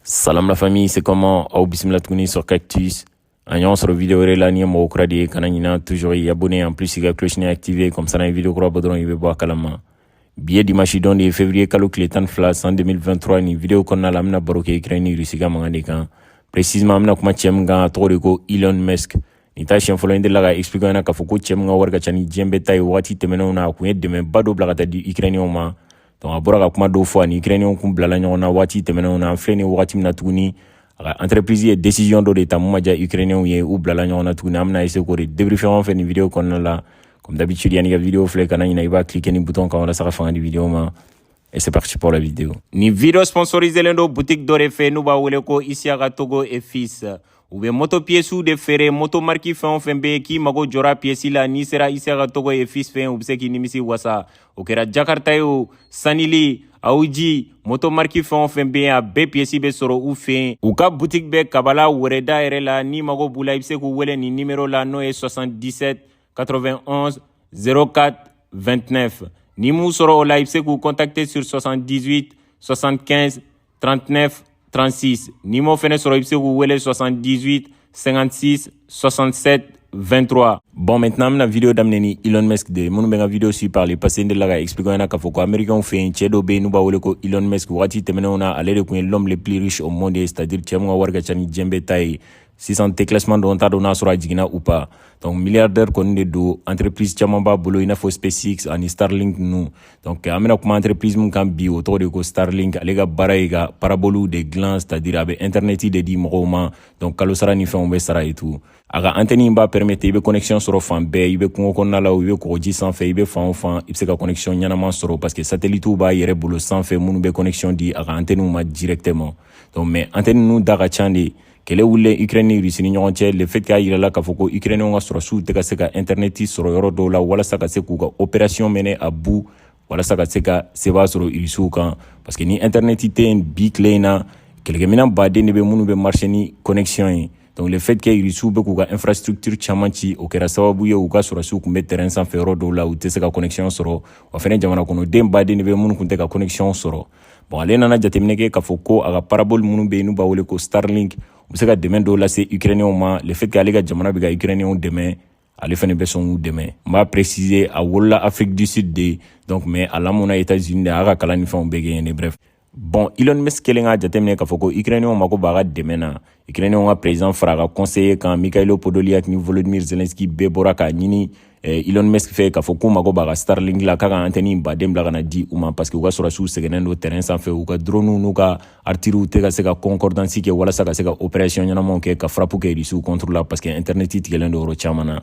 Salam la famille, c'est comment Aw bismillah tuguni sur Cactus. An ɲɔgɔn sɔrɔ video wɛrɛ la n'i ye mɔgɔ kura de ye kana ɲina toujours i abonner en plus i ka cloche nin activer comme ça n'an ye video kura bɔ dɔrɔn i bɛ bɔ a kalama bi ye dimanche don de ye février kalo tile tan ni fila san 2023 nin video kɔnɔna la an bɛna baro kɛ ukraine ni russie ka mankan de kan précisément an bɛna kuma cɛ min kan a tɔgɔ de ko elon musk nin t'a siɲɛ fɔlɔ n delila k'a expliquer ɲɛna k'a fɔ ko cɛ min ka wari ka ca ni diɲɛ bɛɛ ta ye wagati tɛmɛnenw na a kun ye dɛmɛba dɔ bila ka taa di ukrainienw ma donc a bɔra ka kuma dɔw fɔ a ni ukrainiyɛnw kun bilala ɲɔgɔn na waati tɛmɛnenw na an filɛ nin wagati min na tuguni a ka entreprise ye decision dɔ de ta min ma diya ukrainiyɛnw ye u bilala ɲɔgɔn na tuguni an bɛna essayer k'o de débriefer aw fɛ nin video kɔnɔna la comme d'habitude yanni i ka video filɛ kana ɲina i b'a cliquer nin bouton kan walasa ka fanga di video ma Et c'est parti pour la vidéo. Nin video sponsorisélen don boutique dɔ de fɛ, n'u b'a wele ko Isiaka Togo et Fils. U bɛ moto piyesiw de feere moto mariki fɛn o fɛn bɛ yen k'i mago jɔra piyesi la n'i sera Isiaka Togo et Fils fɛ u bɛ se k'i nimisi wasa o kɛra jakarta ye o sanili awuji moto mariki fɛn o fɛn bɛ yen a bɛɛ piyesi bɛ sɔrɔ u fɛ u ka butiki bɛ kabala wɛrɛda yɛrɛ la n'i mago b'u la i bɛ se k'u wele nin nimero la n'o ye 77 91 04 29 n'i m'u sɔrɔ o la i bɛ se k'u contacter sur 78 75 39 36 n'i m'o fɛnɛ sɔrɔ i bɛ se k'u wele 78 56 67 23 bon maintenant an bɛna video daminɛ ni Elon Musk de ye minnu bɛ n ka video suivre par le passé n delila k'a expliquer aw ɲɛna k'a fɔ ko américainw fɛ yen cɛ dɔ bɛ yen n'u b'a wele ko Elon Musk wagati tɛmɛnenw na ale de kun ye l'homme le plus riche au monde ye c'est à dire cɛ min ka wari ka ca ni diɲɛ bɛɛ ta ye sisan déclassement don n t'a dɔn n'a sɔrɔ a jiginna ou pas donc milliardaire kɔni de don entreprise caman b'a bolo i n'a fɔ spacex ani starlink ninnu donc an bɛna kuma entreprise min kan bi o tɔgɔ de ko starlink ale ka baara ye ka paraboliw de dilan c'est à dire a bɛ interneti de di mɔgɔw ma donc kalo sara ni fɛnw bɛ sara et tout a ka antɛni in b'a permettre i bɛ connexion sɔrɔ fan bɛɛ i bɛ kungo kɔnɔna la o i bɛ kɔgɔji sanfɛ i bɛ fan o fan i bɛ se ka connexion ɲɛnama sɔrɔ parce que satellitew b'a yɛrɛ bolo sanfɛ minnu bɛ connexion di a ka antɛniw ma directement donc mais antɛni ninnu da ka ca dɛ kɛlɛ wulilen ukraine ni russie ni ɲɔgɔn cɛ le fait qu'a yirala k'a fɔ ko ukrainienw ka sɔrɔsiw tɛ ka se ka intɛrnɛti sɔrɔ yɔrɔ dɔw la walasa ka se k'u ka operasiyɔn mener à bout walasa ka se ka seba sɔrɔ irisiw kan parce que ni intɛrnɛti tɛ yen bi tile in na kɛlɛkɛminɛn baden de bɛ minnu bɛ marcher ni connexion ye donc le fait que irisiw bɛ k'u ka infrastructure caman ci o kɛra sababu ye u ka sɔrɔsiw kun bɛ terrain sanfɛ yɔrɔ dɔw la u tɛ se ka connexion sɔrɔ wa fɛnɛ jamanakɔnɔden baden de bɛ minnu kun tɛ ka connexion sɔrɔ bon ale nana jateminɛ kɛ k'a fɔ ko a ka parabole minnu bɛ yen n'u b'a wele ko starlink u bɛ se ka dɛmɛ dɔw lase ukrainiyɛnw ma le fait que ale ka jamana bɛ ka ukrainiyɛnw dɛmɛ ale fɛnɛ bɛ sɔn k'u dɛmɛ n b'a préciser a wolola afrique du sud de donc mais a lamɔna états unis de a y'a ka kalan ni fɛnw bɛɛ kɛ yen de bref bon elon musk kɛlen k'a jateminɛ k'a fɔ ko ukrainiyɛnw mako b'a ka dɛmɛ na Ukrainiens ka president fara ka conseiller kan Mikhailo Podolyak ni Volodymyr Zelensky bɛɛ bɔra k'a ɲini eh, Elon Musk fɛ k'a fɔ k'u mago b'a ka Starlink la k'a ka antɛni baden bila ka na di u ma parce que u ka sɔrɔsiw sɛgɛnnen don terrain sanfɛ u ka droniw n'u ka artilleriew tɛ ka se ka concordance kɛ walasa ka se ka operation ɲɛnamaw kɛ ka frappe kɛ Rusiw contre la parce que internet tigɛlen don yɔrɔ caman na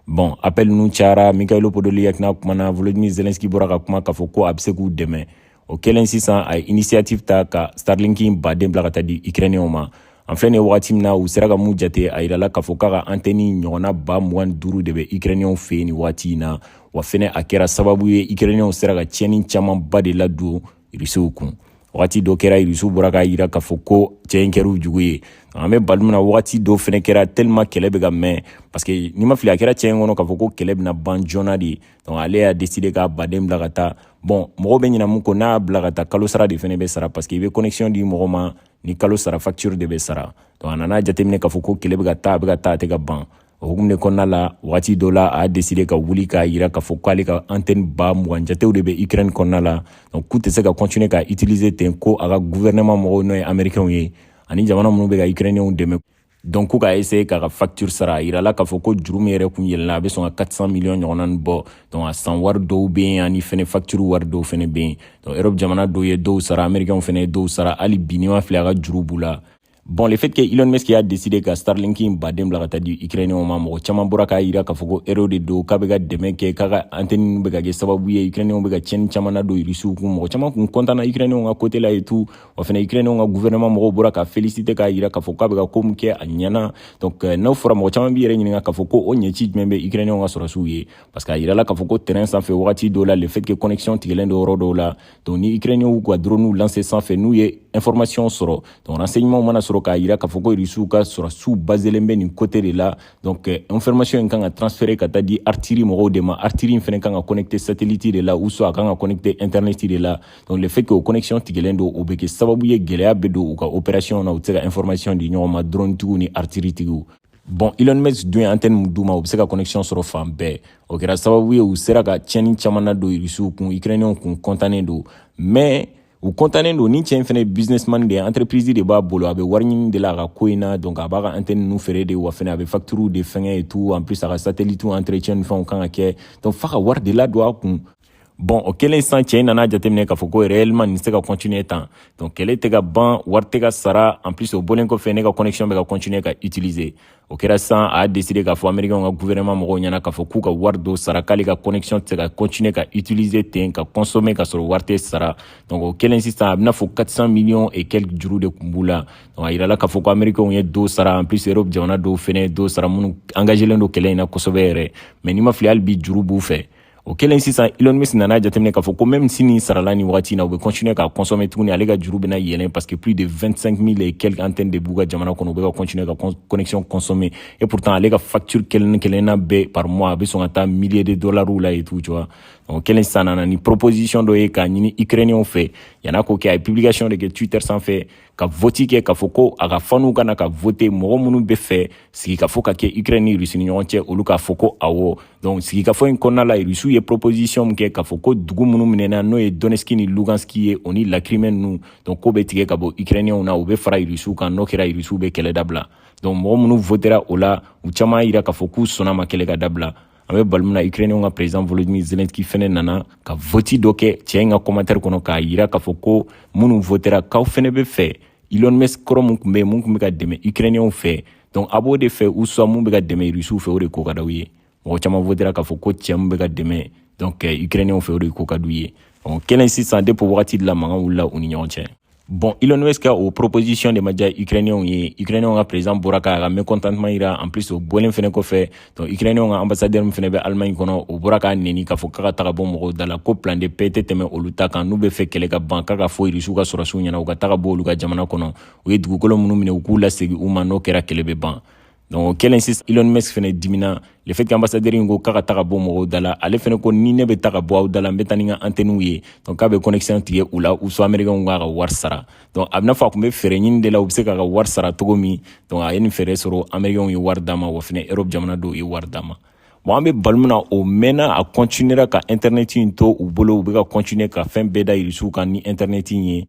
bon appel ninnu cayara Mikhailo Podolyak n'a kumana Volodymyr Zelensky bɔra ka kuma k'a fɔ ko a bɛ se k'u dɛmɛ o kɛlen sisan a ye initiative ta ka starlink baden bila ka taa di ukrainiyɛnw ma an filɛ nin wagati min na u sera ka mun jate a yirala k'a fɔ k'a ka antɛni ɲɔgɔnna ba mugan duuru de bɛ ukrainiyɛnw fɛ yen nin waati in na wa fɛnɛ a kɛra sababu ye ukrainiyɛnw sera ka tiɲɛni camanba de ladon irisiw kun wagati dɔ kɛra irisiw bɔra k'a yira k'a fɔ ko cɛ in kɛr'u jugu ye an bɛ bali min na wagati dɔ fɛnɛ kɛra tellement kɛlɛ bɛ ka mɛn paske n'i ma fili a kɛra cɛ in kɔnɔ k'a fɔ ko kɛlɛ bɛna ban joona de ye donc ale y'a décidé k'a baden bila ka taa bon mɔgɔ bɛ ɲina mun kɔ n'a y'a bila ka taa kalo sara de fɛnɛ bɛ sara parce que i bɛ connexion di mɔgɔ ma ni kalo sara facture de bɛ sara donc a nana jateminɛ k'a fɔ ko kɛlɛ bɛ ka taa a bɛ ka taa a tɛ ka ban o hukumu de kɔnɔna la wagati dɔ la a y'a décidé ka wuli k'a yira k'a fɔ k'ale ka antenne ba mugan jatew de bɛ ukraine kɔnɔna la donc k'u tɛ se ka continuer ka utiliser ten ko a ka gouvernement mɔgɔw n'o ye américainw ye ani jamana minnu bɛ ka ukrainienw dɛmɛ donc k'u ka essayer k'a ka facture sara a yirala k'a fɔ ko juru min yɛrɛ kun yɛlɛnna a bɛ sɔn ka 400 million ɲɔgɔnna ni bɔ donc a san wari dɔw bɛ yen ani fɛnɛ facture wari dɔw fɛnɛ bɛ yen donc europe jamana dɔw ye dɔw sara américainw fɛnɛ ye dɔw sara hali bi n'i ma fili a ka juru b'u la Bon, le fait que Elon Musk y'a décidé ka Starlink in baden bila ka taa di Ukrainiens ma mɔgɔ caman bɔra k'a yira k'a fɔ ko héros de don k'a bɛ ka dɛmɛ kɛ k'a ka antenne bɛ ka kɛ sababu ye Ukrainiens bɛ ka tiɲɛni caman ladon Rusiw kun mɔgɔ caman kun kɔntanna Ukrainiens ka kote la et tout wa fana ukrainenw ka gouvernement mɔgɔw bɔra k'a féliciter k'a yira k'a fɔ k'a bɛ ka ko min kɛ a ɲɛna donc euh, n'o fɔra mɔgɔ caman b'i yɛrɛ ɲininka k'a fɔ ko o ɲɛci jumɛn bɛ ukrainenw ka sɔrɔsiw ye parce que a yirala k'a fɔ ko terrain sanfɛ wagati dɔw la le fait que connexion tigɛlen don yɔrɔ dɔw la donc ni ukrainenw ka dronew lancer sanfɛ n'u ye information sɔrɔ donc renseignement mana sɔrɔ k'a yira k'a fɔ ko rusiw ka sɔrɔsiw baselen bɛ nin côté de la donc euh, information in kan ka transférer ka taa di artillerie mɔgɔw de ma artillerie in fana kan ka connecter satellite de la ou soit a kan ka connecter internet de la donc le fait que o connexion tigɛlen don o bɛ kɛ sababu ye gɛlɛya bɛ don u ka opération na u tɛ se ka information di ɲɔgɔn ma drone tigiw ni artillerie tigiw bon Elon Musk dun ye antenne min d'u ma u bɛ se ka connexion sɔrɔ fan bɛɛ o kɛra sababu ye u sera ka tiɲɛni caman ladon irisiw kun ukrainiyɛnw kun kɔntannen don mais u kɔntannen don ni cɛ in fɛnɛ businessman de ye entreprise de b'a bolo a bɛ wari ɲini de la a ka ko in na donc a b'a ka antenne nu feere de wa fɛnɛ a bɛ facturiw de fɛngɛ et tout en plus a ka satellite entretien ni fɛnw kan ka kɛ donc f'a ka wari de ladon a kun bɔn o kɛlen sisan cɛ in nana jateminɛ k'a fɔ ko réellement nin tɛ se ka continuer tan donc kɛlɛ tɛ ka ban wari tɛ ka sara en plus o bɔlen kɔfɛ ne ka connexion bɛ ka continuer ka utiliser o kɛra sisan a y'a décider k'a fɔ américain ka gouvernement mɔgɔw ɲɛna k'a fɔ k'u ka wari dɔ sara k'ale ka connexion tɛ se ka continuer ka utiliser ten ka consommer ka sɔrɔ wari tɛ sara donc o kɛlen sisan a bɛna fɔ 400 millions et quelques juru de tun b'u la donc a yirala k'a fɔ ko américain ye dɔ sara en plus europe jamana dɔw fɛnɛ ye dɔ sara minnu engagelen don kɛlɛ in na kosɛbɛ yɛrɛ mais n'i ma fili hali bi juru b'u fɛ o kɛlen sisan Elon Musk nana jateminɛ k'a fɔ ko même si nin sarala nin wagati na u bɛ continuer k'a consommer tuguni ale ka juru bɛna yɛlɛn parce que plus de 25 000 et quelques antennes de b'u ka jamana kɔnɔ u bɛ ka continuer ka connexion consommer et pourtant ale ka facture kelen kelenna bɛɛ par mois a bɛ sɔn ka taa milliers de dollars la et tout tu vois o kɛlen sisan nana ni proposition dɔ ye k'a ɲini ukrainiens fɛ yan'a k'o kɛ a ye publication de kɛ twitter sanfɛ ka vote kɛ k'a fɔ ko a ka faniw ka na ka voter mɔgɔ minnu bɛ fɛ sigikafɔ ka kɛ ukraine ni russie ni ɲɔgɔn cɛ olu k'a fɔ ko awɔ donc sigikafɔ in kɔnɔna la irisiw ye proposition min kɛ k'a fɔ ko dugu minnu minɛna n'o ye Donetsk ni Lugansk ye o ni la Crimée ninnu donc k'o bɛ tigɛ ka bɔ ukrainiyɛnw na u bɛ fara irisiw kan n'o kɛra irisiw bɛ kɛlɛ dabila donc mɔgɔ minnu votera o la u caman y'a jira k'a fɔ k'u sɔnna a ma kɛlɛ ka dabila an bɛ baro min na ukrainiyɛnw ka président Volodymyr Zelensky fɛnɛ nana ka vote dɔ kɛ cɛ in ka commentaire kɔnɔ k'a yira k'a fɔ ko minnu votera k'aw fɛnɛ bɛ fɛ Elon Musk kɔrɔ min tun bɛ yen min tun bɛ ka dɛmɛ ukrainiyɛnw fɛ donc a b'o de fɛ ou soit mun bɛ ka dɛmɛ irisiw fɛ o de ko ka d'aw ye mɔgɔ caman votera k'a fɔ ko cɛ min bɛ ka dɛmɛ donc ukrainiyɛnw fɛ o de ko ka d'u ye o kɛlen sisan depuis o wagati de la mankan wulila u ni ɲɔgɔn cɛ bon Elon Musk ka o proposition de ma diya ukrainiyɛnw ye ukrainiyɛnw ka président bɔra k'a ka mécontentement yira en plus o bɔlen fɛnɛ kɔfɛ donc ukrainiyɛnw ka ambassadeur min fɛnɛ bɛ allemagne kɔnɔ o bɔra k'a neni k'a fɔ k'a ka taga bɔ mɔgɔw da la ko plan de paix tɛ tɛmɛ olu ta kan n'u bɛ fɛ kɛlɛ ka ban k'a ka fɔ irisiw ka sɔrɔsiw ɲɛna u ka taga bɔ olu ka jamana kɔnɔ u ye dugukolo minnu minɛ u k'u lasegin u ma n'o kɛra kɛlɛ bɛ ban donc o kɛlen sisan Elon Musk fɛnɛ dimina le fait que ambassadeur in ko k'a ka taga bɔ mɔgɔw da la ale fɛnɛ ko ni ne bɛ taga bɔ aw da la n bɛ taa ni n ka antɛniw ye donc k'a bɛ connexion tigɛ u la ou soit américainw k'a ka wari sara donc a bɛna fɔ a tun bɛ fɛɛrɛ ɲini de la u bɛ se k'a ka wari sara cogo min donc a ye nin fɛɛrɛ sɔrɔ américainw ye wari d'a ma wa fɛnɛ europe jamana dɔw ye wari d'a ma bon an bɛ baro min na o mɛnna a continuera ka internet in to u bolo u bɛ ka continuer ka fɛn bɛɛ da irisiw kan ni internet in ye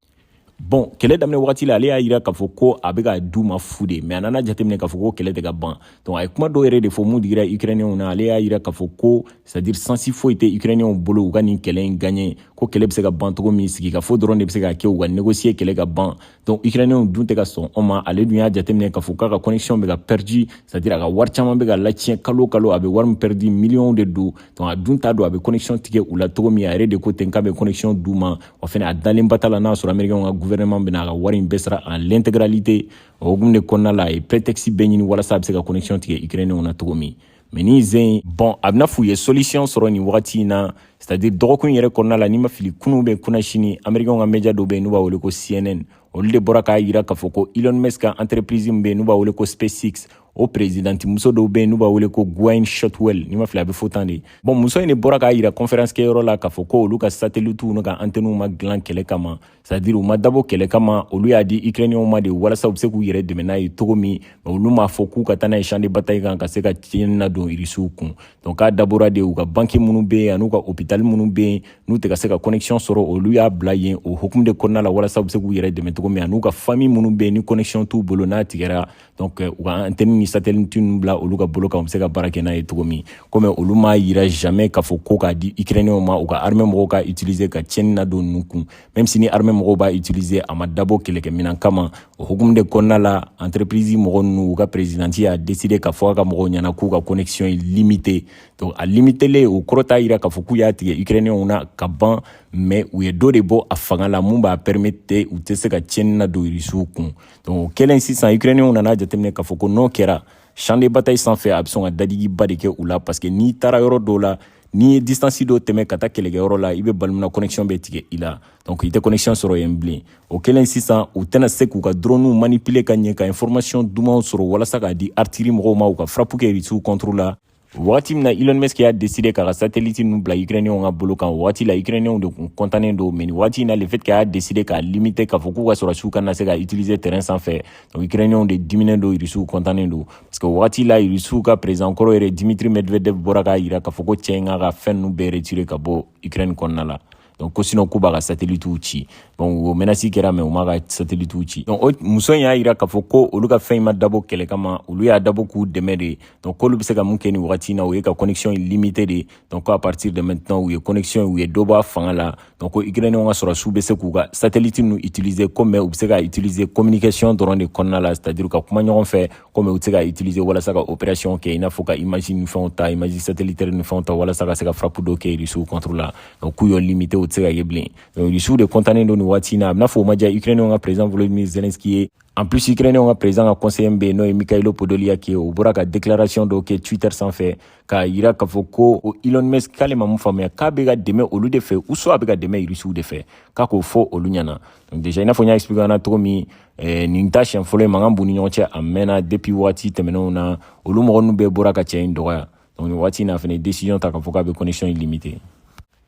bon kɛlɛ daminɛ wagati la ale y'a yira k'a fɔ ko a bɛ ka d'u ma fu de mais a nana jateminɛ k'a fɔ ko kɛlɛ tɛ ka ban donc a ye kuma dɔw yɛrɛ de fɔ mun digira ukrainiyɛnw na ale y'a yira k'a fɔ ko c'est-à-dire chance foyi tɛ ukrainiyɛnw bolo u ka nin kɛlɛ in gagner ko kɛlɛ bɛ se ka ban cogo min sigikafɔ dɔrɔn de bɛ se ka kɛ u ka négocier kɛlɛ ka ban donc ukrainiyɛnw dun tɛ ka sɔn o ma ale dun y'a jateminɛ k'a fɔ k'a ka connexion bɛ ka perdu c'est-à-dire a ka wari caman bɛ ka latiɲɛ kalo kalo a bɛ wari min perdu miliyɔnw de don donc a dun t'a dɔn a bɛ connexion tigɛ u la cogo min a yɛrɛ de ko ten k'a bɛ connexion d'u ma wa fɛnɛ a dalen ba t'a la n'a sɔrɔ amerikɛnw ka guvɛrɛnɛman bɛna a ka wari in bɛɛ sara en l'intégralité o hukumu de kɔnɔna la a ye prétexte bɛɛ ɲini walasa a bɛ se ka connexion tigɛ ukrainenw na cogo min mɛ ni zen bon a bɛna f'u ye solution sɔrɔ nin wagati in na c'est à dire dɔgɔkun yɛrɛ kɔnɔna la ni n ma fili kunu bɛ kunasini amerikɛnw ka media dɔ bɛ yen n'u b'a wele ko cnn olu de bɔra k'a yira k'a fɔ ko elon musk ka entreprise min bɛ yen n'u b'a wele ko spacex o perezidanti muso dɔ bɛ yen n'u b'a wele ko gwynne shotwell ni n ma fili a bɛ fɔ tan de bon muso in de bɔra k'a yira conférence kɛyɔrɔ la k'a fɔ ko olu ka satelitiw n'u ka antɛniw ma dilan kɛlɛ kama c'est à dire u ma dabɔ kɛlɛ kama olu y'a di ukrainiyɛnw ma de walasa u bɛ se k'u yɛrɛ dɛmɛ n'a ye cogo min mɛ olu m'a fɔ k'u ka taa n'a ye champ de bataille kan ka se ka tiɲɛni ladon irisiw kun donc k'a dabɔra de u ka banki minnu bɛ yen an'u ka hopitali minnu bɛ yen n'u tɛ ka se ka connexion sɔrɔ olu y'a bila yen o hukumu de kɔnɔna la walasa u bɛ se k'u yɛrɛ dɛmɛ cogo min an'u ka fami minnu bɛ yen ni connexion t'u bolo n'a tigɛra donc u ka antenne ni satellite ninnu bila olu ka bolo kan u bɛ se ka baara kɛ n'a ye cogo min ko mɛ olu m'a yira jamais k'a fɔ ko k'a di ukrainiyɛnw ma u ka armée mɔgɔw k'a utiliser ka tiɲɛni ladon ninnu kun même si ni armée mɔgɔw b'a utiliser a ma dabɔ kɛlɛkɛminɛn kama o hukumu de kɔnɔna la entreprise mɔgɔ ninnu u ka présidente y'a décider k'a fɔ a ka mɔgɔw ɲɛna k'u ka connexion in limiter donc a limitelen o kɔrɔ t'a yira k'a fɔ k'u y'a tigɛ ukrainiyɛnw na ka ban mɛ u ye dɔ de bɔ a fanga la mun b'a permete u tɛ se ka tiɲɛni ladon irisiw kun donc o kɛlen sisan ukrainiyɛnw nana jateminɛ k'a fɔ ko n'o kɛra champ de bataille sanfɛ a bɛ sɔn ka dadigiba de kɛ u la parce que n'i taara yɔrɔ dɔw la n'i ye distance dɔ tɛmɛ ka taa kɛlɛkɛyɔrɔ la i bɛ bali mun na connexion bɛ tigɛ i la donc i tɛ connexion sɔrɔ yen bilen o kɛlen sisan u tɛna se k'u ka droniw manipuler ka ɲɛ ka information dumanw sɔrɔ walasa k'a di artillerie mɔgɔw ma u ka frappe kɛ irisiw contre la Wagati min na Elon Musk y'a décider k'a ka satellite ninnu bila Ukrainiens ka bolo kan, o wagati la Ukrainiens de tun kɔntannen don mais nin wagati in na le fait que a y'a décider k'a limiter k'a fɔ k'u ka sɔrɔdasiw kana se k'a utiliser terrain sanfɛ donc Ukrainiens de diminnen don Russiw kɔntannen don parce que o wagati la Russiw ka président kɔrɔ yɛrɛ Dmitri Medvedev bɔra k'a yira k'a fɔ ko cɛ in k'a ka fɛn ninnu bɛɛ retirer ka bɔ Ukraine kɔnɔna la donc ko sinon k'u b'a ka satelitiw ci donc o menasi kɛra mɛ u m'a ka satelitiw ci donc o muso in y'a yira k'a fɔ ko olu ka fɛn in ma dabɔ kɛlɛ kama olu y'a dabɔ k'u dɛmɛ de donc k'olu bɛ se ka mun kɛ nin wagati na o ye ka connexion in limite de donc ko à partir de maintenant u ye connexion u ye dɔ bɔ a fanga la donc ko ukrainien ka sɔrɔdasiw bɛ se k'u ka satellite ninnu utiliser ko mɛ u bɛ se k'a utiliser communication dɔrɔn de kɔnɔna la c'est à dire ka kuma ɲɔgɔn fɛ ko mɛ u tɛ se k'a utiliser walasa ka opération kɛ i n'a fɔ ka image ni fɛnw ta image satellitaire ni fɛnw ta walasa ka se ka frappe dɔ kɛ rusiw contre la donc k'u y'o limite o tɛ se ka ye bilen donc rusiw de kɔntannen don nin waati na a bɛna fɔ o ma diya ukrainenw ka président volodymyr zelensky ye en plus ukrainenw ka président ka conseiller bɛ yen n'o ye mikhailo podolyak ye o bɔra ka déclaration dɔw kɛ twitter sanfɛ k'a yira k'a fɔ ko o elon musk k'ale ma mun faamuya k'a bɛ ka dɛmɛ olu de fɛ ou soit a bɛ ka dɛmɛ rusiw de fɛ k'a k'o fɔ olu ɲɛna donc déjà i n'a fɔ n y'a expliqué an na cogo min eh, nin t'a siɲɛ fɔlɔ ye mankan b'u ni ɲɔgɔn cɛ a mɛnna depuis waati tɛmɛnenw na olu mɔgɔ ninnu bɛɛ bɔra ka cɛ in dɔgɔya donc nin waati in na fɛnɛ décision ta k'a fɔ k'a bɛ connexion in limiter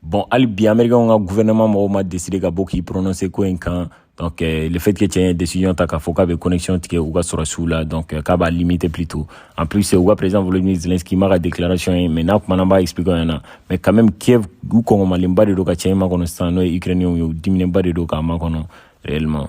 bon hali bi américain ka gouvernement mɔgɔw ma décider ka bɔ k'i prononcer ko in kan donc euh, le fait que cɛ ye décision ta k'a fɔ k'a bɛ connexion tigɛ u ka sɔrɔsiw la donc euh, k'a b'a limiter plutôt en plus u ka président volodymyr zelensky n m'a ka déclaration ye mais n'a kumana n b'a expliquer aw ɲɛna mais quand même kiev u kɔngɔmalenba de don ka cɛ in makɔnɔ sisan n'o ye ukrainien ye u diminenba de don k'a makɔnɔ réellement